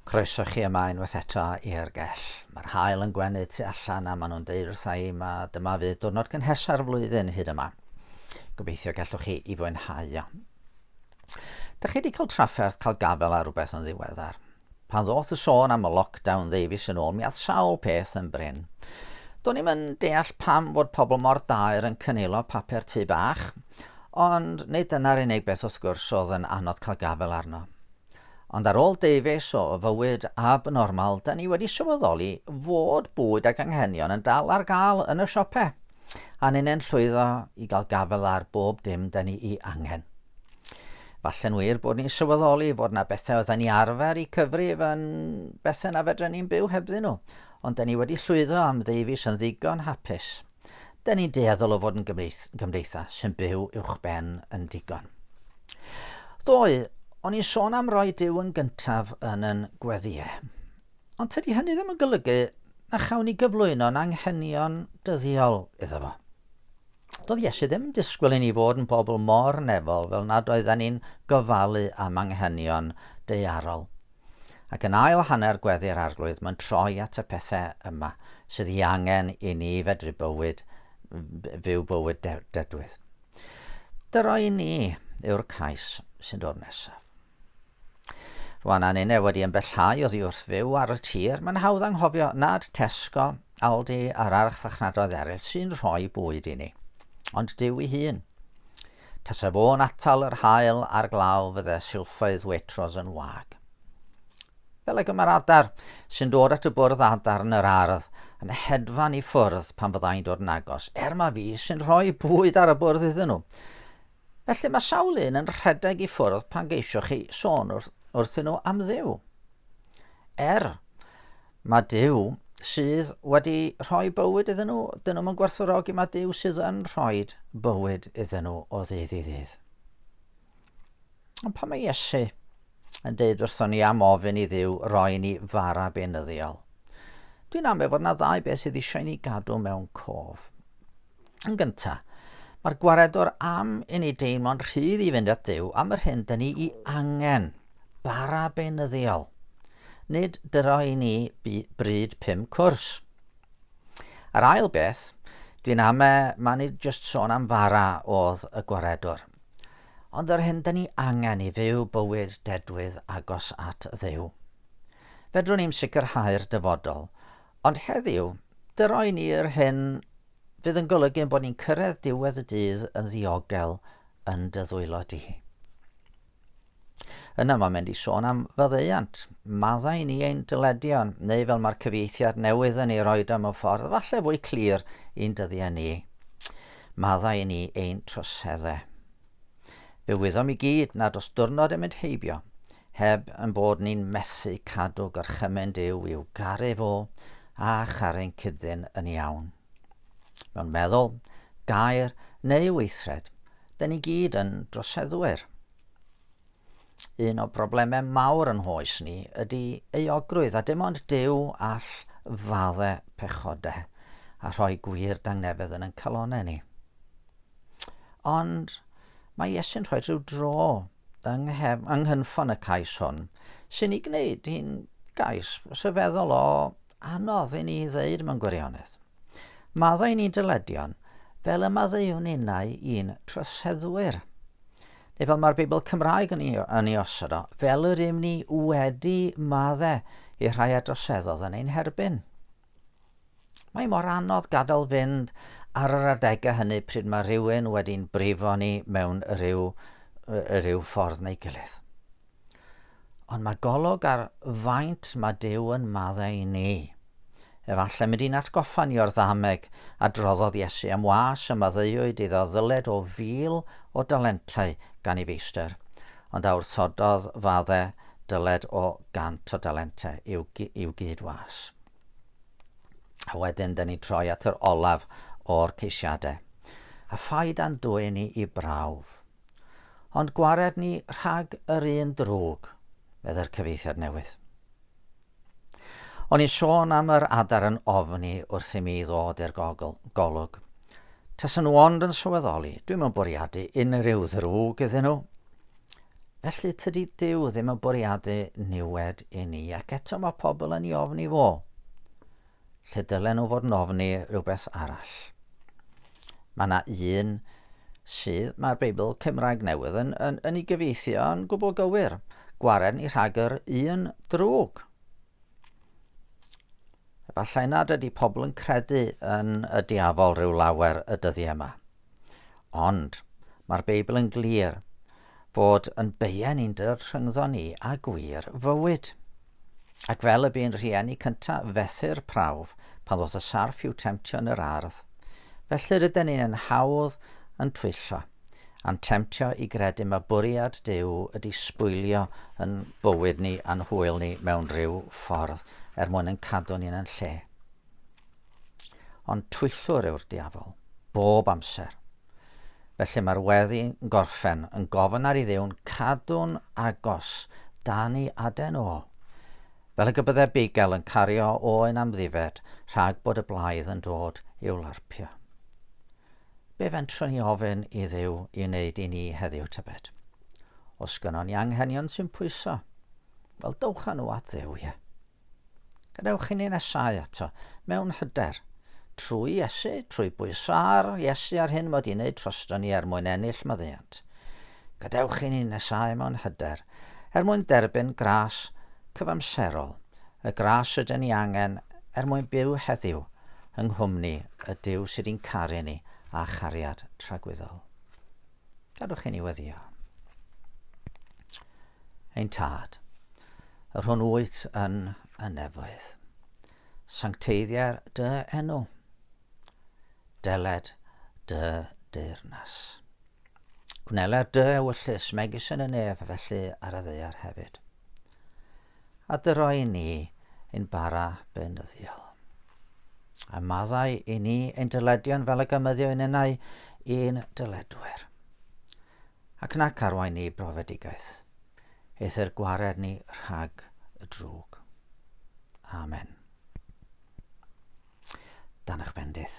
Croeso chi yma unwaith eto i'r gell. Mae'r haul yn gwenu tu allan a maen nhw'n deud wrtha i ma dyma fydd diwrnod cynhesa'r flwyddyn hyd yma. Gobeithio gallwch chi i fwynhau o. Dych chi wedi cael trafferth cael gafel ar rhywbeth yn ddiweddar? Pan ddoth y sôn am y lockdown ddeufis yn ôl, mi ath sawl peth yn brin. Do'n i'm yn deall pam fod pobl mor daer yn cynilo papur tŷ bach, Ond nid dyna'r unig beth wrth gwrs oedd yn anodd cael gafael arno. Ond ar ôl deufis o fywyd abnormal, da ni wedi sylweddoli fod bwyd ac anghenion yn dal ar gael yn y siope, a ninnau'n llwyddo i gael gafael ar bob dim da ni'i angen. Falle'n wir bod ni'n sylweddoli fod na bethau oedden ni arfer i cyfrif yn bethau na fedren ni'n byw hebddyn nhw, ond da ni wedi llwyddo am ddeufis yn ddigon hapus. Dyn ni'n dueddol o fod yn gymdeithas sy'n byw uwchben yn digon. Ddoe, o'n i'n sôn am roi Dyw yn gyntaf yn yn gweddiau. Ond tydi hynny ddim yn golygu na chawn ni gyflwyno'n anghenion dyddiol iddo fo. Doedd Iesu ddim yn disgwyl i ni fod yn bobl mor nefol fel nad oedden ni'n gofalu am anghenion deiarol. Ac yn ail hanner Gweddi'r Arglwydd mae'n troi at y pethau yma sydd ei angen i ni fedru bywyd, fyw bywyd de, dedwydd. Dyro i ni yw'r cais sy'n dod nesaf. Rwan a nine wedi ymbellhau oddi wrth fyw ar y tir, mae'n hawdd anghofio nad Tesco, Aldi a'r archfarchnadoedd eraill sy'n rhoi bwyd i ni, ond Dyw ei hun. Tase fo'n atal yr haul a'r glaw fydde silffoedd Waitrose yn wag. Fel ag y mae'r adar sy'n dod at y bwrdd adar yn yr ardd yn hedfan i ffwrdd pan fyddai'n dod yn agos, er mae fi sy'n rhoi bwyd ar y bwrdd iddyn nhw. Felly mae sawl un yn rhedeg i ffwrdd pan geisiwch chi sôn wrth, wrthyn nhw am ddiw. Er, Mae Duw sydd wedi rhoi bywyd iddyn nhw, dyn nhw'n gwerthfawrogi, mae Duw sydd yn rhoi bywyd iddyn nhw o ddydd i ddydd. Ond pan mae Iesu yn deud wrthon ni am ofyn i ddiw roi ni fara benyddiol, dwi'n amau fod yna ddau beth sydd eisiau ni gadw mewn cof. Yn gynta, mae'r gwaredwr am i ni deimlo'n rhydd i fynd at Dduw am yr hyn da ni i angen, bara beunyddiol. Nid dyro i ni bryd pum cwrs. Yr ail beth, dwi'n ame mae ni just sôn am fara oedd y gwaredwr. Ond yr hyn da ni angen i fyw bywyd dedwydd agos at Dduw. Fedrwn ni'm sicrhau'r dyfodol, Ond heddiw, dy roi ni yr hyn fydd yn golygu ein bod ni'n cyrraedd diwedd y dydd yn ddiogel yn dy ddwylo di. Yna mae mynd i sôn am faddeuant, maddau ni ein dyledion, neu fel mae'r cyfieithiad newydd yn ei roed am y ffordd, falle fwy clir i'n dyddiau ni, maddau ni ein troseddau. Fe wyddom i gyd nad os dwrnod yn mynd heibio, heb yn bod ni'n methu cadw gorchymyn Duw i'w garu fo a charu'n cyddyn yn iawn. Mewn meddwl, gair neu weithred, da ni gyd yn droseddwyr. Un o broblemau mawr yn hoes ni ydy euogrwydd a dim ond Duw all fadde pechodau a rhoi gwir dangnefedd yn yn calonau ni. Ond mae Iesu'n rhoi rhyw dro yng nghefn, yng nghynffon y cais hwn sy'n ei gwneud hi'n gais rhyfeddol o Anodd i ni ddeud mewn gwirionedd. Maddau ni dyledion fel y maddeuwn innau i'n troseddwyr. Neu fel mae'r Beibl Cymraeg yn ei, yn ei osod o, fel yr ym ni wedi madde i rhai a droseddodd yn ein herbyn. Mae mor anodd gadael fynd ar yr adegau hynny pryd mae rhywun wedi'n brifo ni mewn rhyw, rhyw ffordd neu gilydd. Ond mae golwg ar faint mae Duw yn maddau i ni. Efallai mynd i'n atgoffa ni o'r ddameg a droddodd Iesu am was y maddeuwyd iddo ddyled o fil o dalentau gan ei feistr, ond a wrthododd fadde dyled o gant o dalentau i'w, i'w gyd was. A wedyn dyn ni troi at yr olaf o'r ceisiadau. A phaid a'n dwyn ni i brawf. Ond gwared ni rhag yr un drwg, meddai'r cyfeithiad newydd. O'n i'n sôn am yr adar yn ofni wrth i mi ddod i'r golwg. Tasen nhw ond yn sylweddoli, dwi'n yn bwriadu unrhyw ddrwg iddyn nhw. Felly tydi Dyw ddim yn bwriadu niwed i ni, ac eto mae pobl yn ei ofni fo. lle dylen nhw fod yn ofni rhywbeth arall. Mae yna un sydd, mae'r Beibl Cymraeg Newydd yn, yn, yn ei gyfeithio yn gwbl gywir, gwared ni rhag yr un drwg. Efallai nad ydy pobl yn credu yn y diafol rhyw lawer y dyddiau yma. Ond mae'r Beibl yn glir fod yn beien i'n dy rhyngddo ni a gwir fywyd. Ac fel y bu'n rhieni cynta fethu'r prawf pan ddoth y sarff i'w temtio yn yr ardd, felly ryden ni'n yn hawdd yn twyllo, a'n temtio i gredu ma bwriad Duw ydi sbwylio yn bywyd ni a'n hwyl ni mewn rhyw ffordd er mwyn yn cadw ni'n yn lle. Ond twyllwr yw'r diafol, bob amser. Felly mae'r weddi yn gorffen yn gofyn ar i ddiwn cadw'n agos dan i aden o. Fel y gybydde bigel yn cario o yn amddifed rhag bod y blaidd yn dod i'w larpio. Be fentrwn i ofyn i ddiw i wneud i ni heddiw tybed? Os gynnon ni anghenion sy'n pwyso, wel dowch â nhw at ddiw, ie. Gadewch i ni nesáu ato, mewn hyder. Trwy Iesu, trwy bwyso ar Iesu a'r hyn mod i'n neud troston ni er mwyn ennill maddeuant. Gadewch i ni nesáu mewn hyder, er mwyn derbyn gras cyfamserol, y gras rydyn ni angen er mwyn byw heddiw yng nghwmni y Duw sydd i'n caru ni â chariad tragwyddol. Gadwch i ni weddio. Ein tad, yr hwn wyt yn y nefoedd, sancteiddiau'r dy enw, deled dy deyrnas. Gwneler dy ewyllus megis yn y nef felly ar y ddeiar hefyd. A dy roi ni yn bara beunyddiol. A maddau i ni ein dyledion fel y gymyddio yn enau i'n dyledwyr. Ac nac arwain ni brofedigaeth, eithr gwared ni rhag y drwg. Amen. Dan eich bendith.